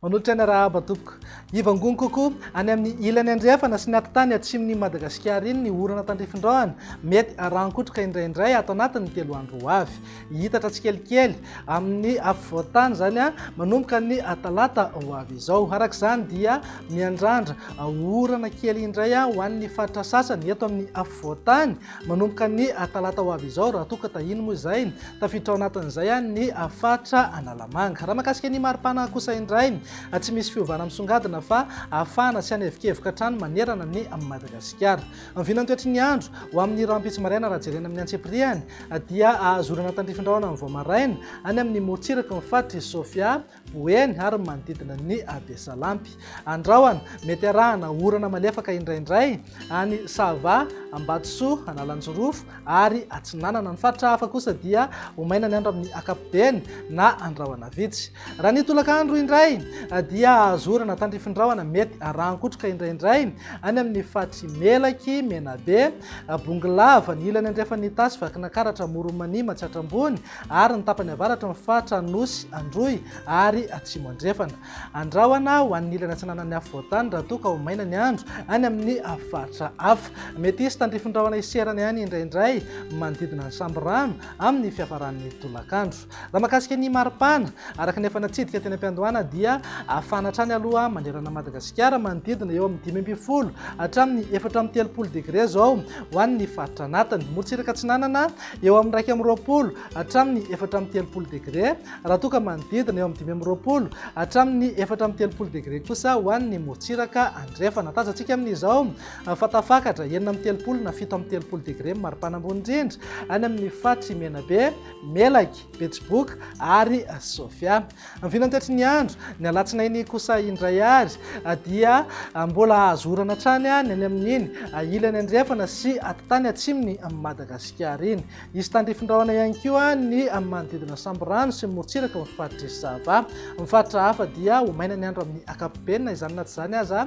Manolotra ny arahaba tompoko. Hivangongo kokoa any amin'ny ilany andrefana sy ny atitany atsimon'i Madagasikara iny ny orana tandrifindraony, mety harankotroka indraindray ato anatin'ny telo andro ho avy. Hihitatra tsikelikely amin'ny afovoan-tany izany manomboka ny talata ho avy izao. Araka izany dia miandrandra orana kely indray ho an'ny faritra sasany eto amin'ny afovoan-tany manomboka ny talata ho avy izao raha toa ka tahiny moa izay tafiditra ao anatin'izay ny faritra Analamanga. Raha makasika ny mari-pana kosa indray tsy misy fiovana misongadina fa hafana sy hanevokevoka hatrany manerana ny Madagasikara. Ny vinantoetry ny andro, ho amin'ny rahampitso maraina raha jerena amin'ny antsipiriany, dia azo orana tandrifin-drahona amin'ny vao maraina any amin'ny morontsiraky ny faritr'i Sofia, Boeny ary ny manodidina ny Abesalampy. Andrahona, mety arahana orana malefaka indraindray any Sava, Ambatosoa, Analanjirofo ary Atsinanana. Ny faritra hafa kosa dia ho maina ny andro amin'ny ankapobeny na andrahona vitsy. Raha ny tolakandro indray dia azo orana tandrifin-drahona mety rahan-kotroka indraindray any amin'ny faritry Melaky, Menabe, Bongolava, ny ilany andrefan'ny Itasy, Vakinakaratra, Amoron'Mania, Matsiatra Ambony ary ny tapany avaratra ny faritra Anosy, Androy ary Atsimo Andrefana. Andrahona ho an'ny ilany atsinanan'ny afovoan-tany raha toa ka ho maina ny andro any amin'ny faritra hafa. Mety hisy tandrifin-drahona hiserana ihany indraindray manodidina ny Sambirano amin'ny fiafaran'ny tolakandro. Raha mahakasika ny maripana, araka ny efa natsidika teny am-piandohana dia hafana hatrany aloha manerana an'i Madagasikara manodidina eo amin'ny dimy ambin'ny folo hatramin'ny efatra amby telopolo degre izao ho an'ny faritra anatiny. Morontsiraka atsinanana eo amin'ny iraika amby roapolo hatramin'ny efatra amby telopolo degre raha toa ka manodidina eo amin'ny dimy amby roapolo hatramin'ny efatra amby telopolo degre kosa ho an'ny morontsiraka andrefana. Tazantsika amin'izao fa tafakatra enina amby telopolo na fito amby telopolo degre maripana ambony indrindra any amin'ny faritry Menabe, Melaky, Betsiboka ary Sofia. Ny vinantetry ny andro, ny alatsinainy kosa indray ary dia mbola azo orana hatrany ny any amin'iny ilany andrefana sy atitany atsimon'i Madagasikara iny. Hisy tandrifin-drahona ihany koa ny manodidina Sambirano sy morontsiraka ao amin'ny faritr'i Sava. Ny faritra hafa dia ho maina ny andro amin'ny ankapobeny na izany na tsy izany aza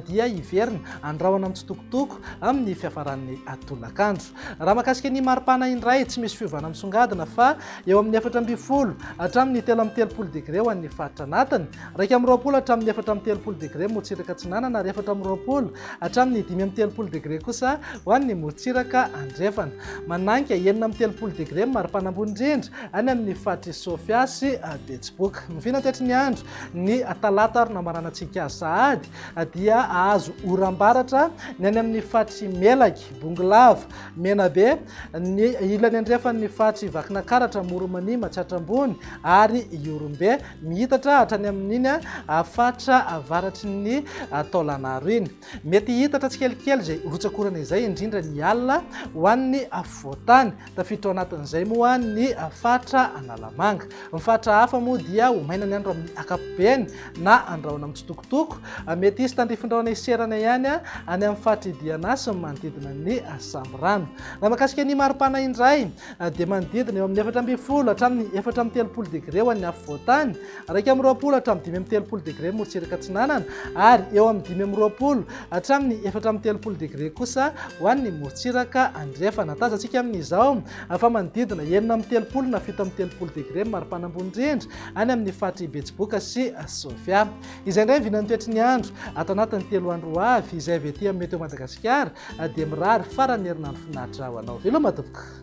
dia hiverina handrahona mitsitokotoko amin'ny fiafaran'ny tolakandro. Raha mahakasika ny maripana indray, tsy misy fiovana misongadina fa eo amin'ny efatra ambin'ny folo hatramin'ny telo amby telopolo degre ho an'ny faritra anatiny, iraika amby roapolo hatramin'ny efatra amby telopolo degre morotsiraka atsinanana ary efatra amby roapolo hatramin'ny dimy amby telopolo degre kosa ho an'ny morotsiraka andrefana. Mananka enina amby telopolo degre ny maripana ambony indrindra any amin'ny faritr'i Sofia sy Betsiboka. Miviana an-taitry ny andro ny talata ary namaranantsika sahady dia hahazo oram-baratra ny any amin'ny faritr'i Melaky. Bongolava, Menabe, ny ilany andrefan' ny faritr' i Vakinakaratra, Moromania, Matsiatra Ambony ary Ihorombe, mihitatra hatrany amin' iny faritra avaratry ny Taolagnaro iny. Mety hihitatra tsikelikely izay rotsakorana izay, indrindra ny alina, ho an' ny afovoan-tany. Tafiditra ao anatin'izay moa ny faritra Analamanga. Ny faritra hafa moa dia ho maina ny andro amin'ny ankapobeny na andrahoana mitsitokotoko. Mety hisy tandrifin-drahona hiserana ihany any amin'ny faritra Idiana sy ny manodidina ny Sambirano. Na makasika ny mari-pana indray dia manodidina eo amin'ny efatra ambin'ny folo hatramin'ny efatra amby telopolo degre ho an'ny afovoan-tany. Iraika amby roapolo hatramin'ny dimy amby telopolo degre morotsiraka atsinanana ary eo amin'ny dimy amby roapolo hatramin'ny efatra amby telopolo degre kosa ho an'ny morotsiraka andrefana. Tazantsika amin'izao fa manodidina enina amby telopolo na fito amby telopolo degre ny maripana ambony indrindra any amin'ny faritr'i Betsiboka sy Sofia. Izay indray ny vinan'ny toetry ny andro ato anatin'ny telo andro ho avy izay avy ety amin'ny Météo Madagasikara dia mirary faran'ny herinandro finaritra ho anao. Veloma tompoko!